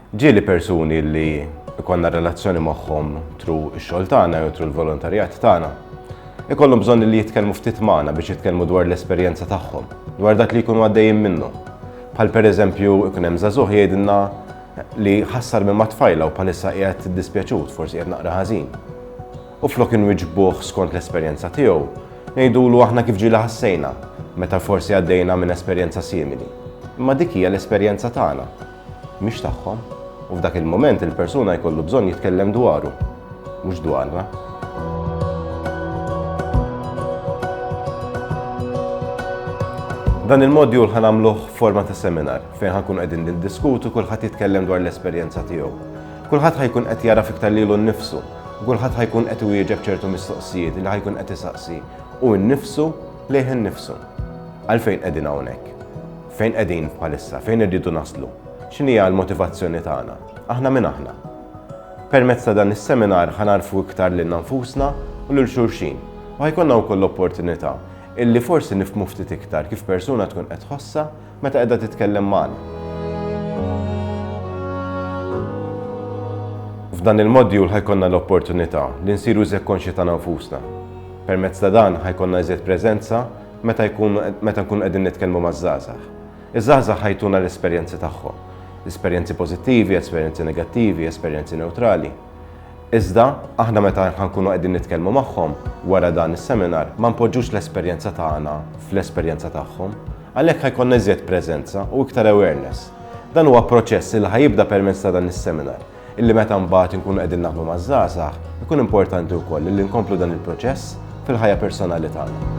Ġieli persuni li jkollna relazzjoni magħhom tru x-xogħol tagħna jew tru l-volontarjat tagħna ikollhom bżonn li jitkellmu ftit magħna biex jitkellmu dwar l-esperjenza tagħhom, dwar dak li jkunu għaddejjin minnu. Bħal pereżempju ikun hemm żagħżugħ jgħidilna li ħassar minn mat-tfajla u bħalissa qiegħed dispjaċut, forsi qiegħed naqra ħażin. u flok inwiġbuh skont l-esperjenza tiegħu, ngħidulu aħna kif ġieli ħassejna meta forsi għaddejna minn esperjenza simili. Imma dik hija l-esperjenza tagħna, mhix tagħhom, u f'dak il-mument il-persuna jkollu bżonn jitkellem dwaru, mhux dwarna. Dan il-modjul ħan għamluħ forma ta' seminar fejn ħankun qegħdin niddiskutu kulħadd jitkellem dwar l-esperjenza tiegħu. Kulħadd ħa jkun qed jagħraf iktar lilu nnifsu, u kulħadd ħa jkun qed iwieġeb ċertu mistoqsijiet li ħa jkun qed isaqsi hu nnifsu lejh innifsu. Għalfejn qegħdin hawnhekk? Fejn qegħdin bħalissa? Fejn irridu naslu? X'inhi l-motivazzjoni tagħna? Aħna min aħna? Permezz ta' dan is-seminar ħanarfu iktar lil nfusna u lil xulxin. U ħajkonna wkoll l-opportunità illi forsi nifmu ftit iktar kif persuna tkun qed ħossa Meta qiegħda titkellem magħna. F'dan il-modjul ħajkonna l-opportunità li nsiru iżjed konxji ta' nfusna. Permezz ta' dan ħajkonna iżjed preżenza meta jkun meta nkun qegħdin nitkellmu maż-żgħażagħ. Iż-żgħażagħ ħajtuna l-esperjenzi tagħhom. Esperjenzi pożittivi, esperjenzi negattivi, esperjenzi newtrali. Iżda, aħna meta ħa nkunu qegħdin nitkellmu magħhom wara dan is-seminar ma npoġġux l-esperjenza tagħna fl-esperjenza tagħhom. Għalhekk ħa jkollna iżjed preżenza u iktar awareness. Dan huwa proċess illi ħa jibda permezz ta' dan is-seminar, illi meta mbagħad inkunu qegħdin naħdmu maż-żgħażagħ, ikun importanti wkoll illi nkomplu dan il-proċess fil-ħajja personali tagħna.